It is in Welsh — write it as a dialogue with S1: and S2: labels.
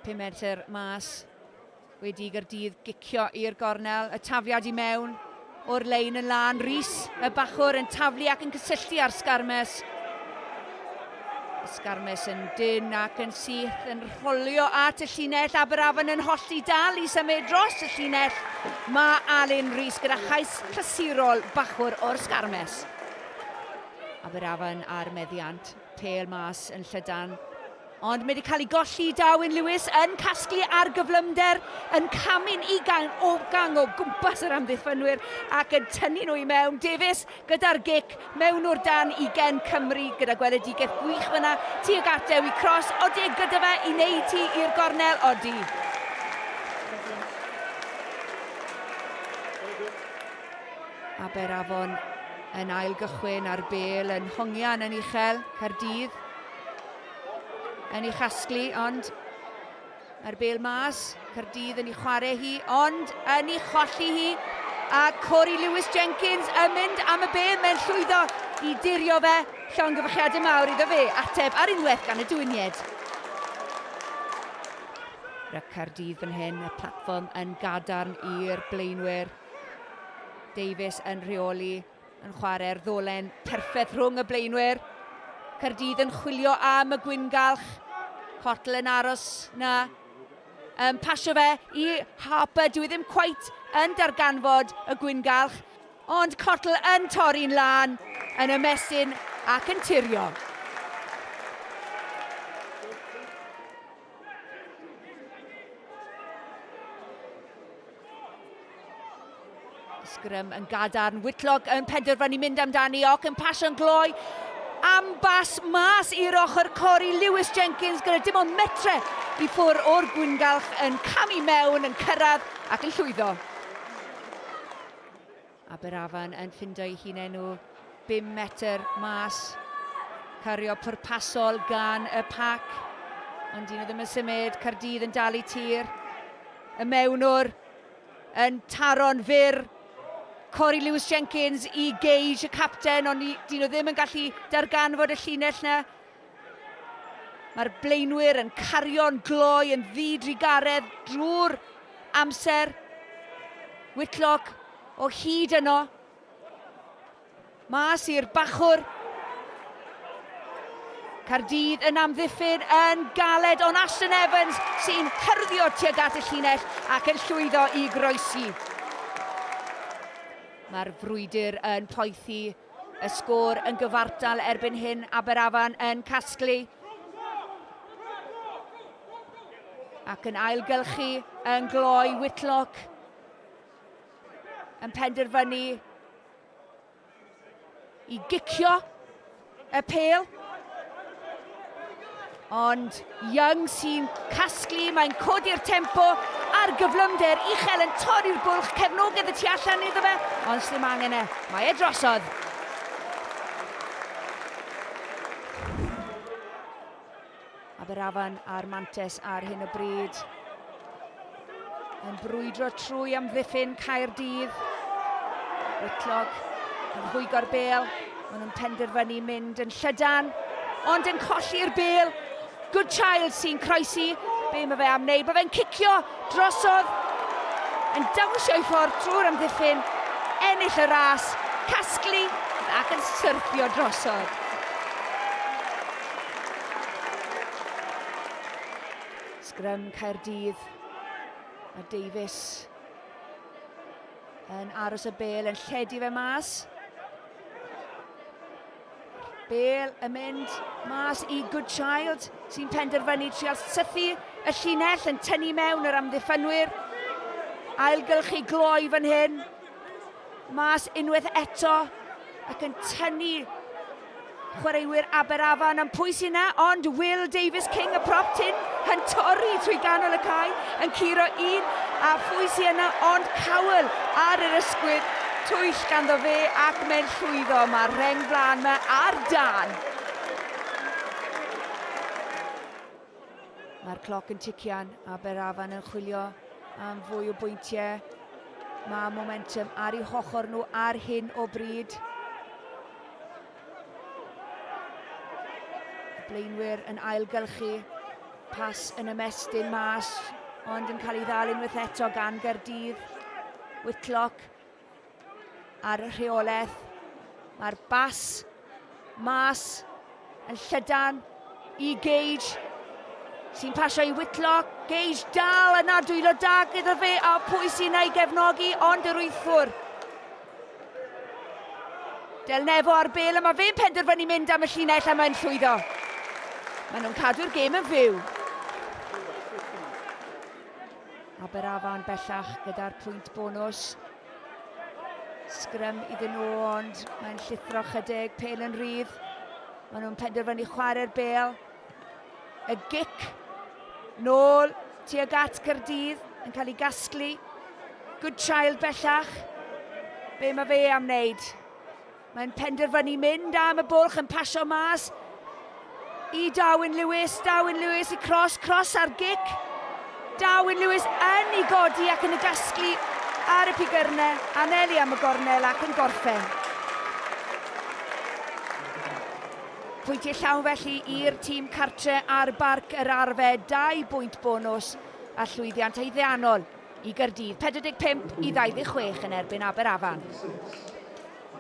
S1: Pum metr mas wedi i Gaerdydd gicio i'r gornel, y tafiad i mewn o'r lein yn lân. Rhys y bachwr yn taflu ac yn cysylltu ar Sgarmes. Sgarmes yn dyn ac yn syth yn rholio at y llinell. Aberafan yn hollti dal i symud dros y llinell. Mae Alun Rhys gyda chais clasurol bachwr o'r Sgarmes. Aberafan ar meddiant. Pêl mas yn llydan, ond mae wedi cael ei golli i Darwin Lewis yn casglu ar gyflymder, yn camu'n ugain o gang o gwmpas yr amddiffynwyr ac yn tynnu nhw i mewn. Davies gyda'r gic mewn o'r dan i gen Cymru gyda gweledigaeth gwych fyna tuag at Dewi Cross. Odi e gyda fe i wneud hi i'r gornel? Odi. Aber Afon yn ail gychwyn ar bel yn hongian yn uchel, Caerdydd yn ei chasglu, ond mae'r bel mas, Caerdydd yn ei chwarae hi, ond yn ei cholli hi, a Corey Lewis Jenkins yn mynd am y bel, mae'n llwyddo i dirio fe, llong gyfychiadau mawr iddo fe, ateb ar unwaith gan y dwynied. Rhaid Caerdydd fan hyn, y platfform yn gadarn i'r blaenwyr. Davies yn rheoli, yn chwarae'r ddolen perffaith rhwng y blaenwyr. Caerdydd yn chwilio am y gwyngalch. Cottle yn aros na. Um, pasio fe i Harper, dwi e ddim cweit yn darganfod y gwyngalch, ond Cottle yn torri'n lan yn y mesyn ac yn tirio. Sgrym yn gadarn, Whitlock yn penderfynu mynd amdani ac yn pasio'n gloi am bas mas i'r ochr cori Lewis Jenkins gyda dim ond metre i ffwr o'r gwyngalch yn camu mewn, yn cyrraedd ac yn llwyddo. Aberafan yn ffindo'i hun enw bum metr mas. Cario pwrpasol gan y pac. Ond dyn nhw ddim yn symud. Cardydd yn dal i tir. Y mewnwr yn taro'n fyr. Corey Lewis Jenkins i Gage, y capten, ond dyn nhw ddim yn gallu darganfod y llinell na. Mae'r blaenwyr yn cario'n gloi yn ddi-drugaredd drwy'r amser. Whitlock o hyd yno. Mas i'r bachwr. Cardydd yn amddiffyn yn galed, ond Ashton Evans sy'n hyrddio tuag at y llinell ac yn llwyddo i groesi. Mae'r frwydr yn poethi. Y sgôr yn gyfartal erbyn hyn, Aberafan yn casglu. Ac yn ailgylchu yn gloi Whitlock yn penderfynu i gicio y pel. Ond Young sy'n casglu, mae'n codi'r tempo a'r gyflymder uchel yn torri'r bwlch, cefnogedd y tu allan iddo fe, ond sdim angen e, mae e drosodd. Aberafan a'r Mantes ar hyn o bryd. Yn brwydro trwy amddiffyn Caerdydd. Whitlock yn rhwygo'r bel. Maen nhw'n penderfynu mynd yn llydan. Ond yn colli'r bel. Good Child sy'n croesi. Be mae fe am wneud? Mae fe'n cicio drosodd. Yn dawnsio i ffordd trwy'r amddiffyn. Ennill y ras. Casglu ac yn syrthio drosodd. Sgrym Caerdydd a Davies yn aros y bel yn lledu fe mas. Bel yn mynd mas i Good Child sy'n penderfynu trial sythu y llinell yn tynnu mewn yr amddiffynwyr. Ailgylchu gloi fan hyn. Mas unwaith eto ac yn tynnu chwaraewyr Aberafan yn pwys yna, ond Will Davies King y prop tin yn torri trwy ganol y cae, yn curo un a phwys i yna, ond cawl ar yr ysgwydd twyll ganddo fe ac mae'n llwyddo. Mae'r reng flaen yma ar dan. Mae'r cloc yn tician, Aberafan yn chwilio am fwy o bwyntiau. Mae momentum ar ei hochor nhw ar hyn o bryd. Blaenwyr yn ailgylchu. Pas yn ymestyn mas, ond yn cael ei ddal unwaith eto gan Gerdydd. Whitlock ar y rheolaeth. Mae'r bas mas yn llydan i Gage sy'n pasio i Whitlock. Gage dal yna dwylo da gyda fe a pwy sy'n ei gefnogi ond yr wythwr. Del Nefo ar bel a mae fe'n penderfynu mynd am y llinell a mae'n llwyddo. Maen nhw'n cadw'r gêm yn fyw. Aberafan bellach gyda'r pwynt bonws. Sgrym iddyn nhw, ond mae'n llithro chydig, pel yn rhydd. Maen nhw'n penderfynu chwarae'r bel. Y gic nôl tuag at Cyrdydd yn cael ei gasglu. Good child bellach. Be mae fe am wneud? Mae'n penderfynu mynd am y bwlch yn pasio mas i Darwin Lewis. Darwin Lewis i cros, cros ar gic. Darwin Lewis yn ei godi ac yn y gasglu ar y pigyrnau, anelu am y gornel ac yn gorffen. Pwyntiau llawn felly i'r tîm cartre ar barc yr arfe, dau bwynt bonus a llwyddiant haeddiannol i Gyrdydd, 45 i 26 yn erbyn Aberafan.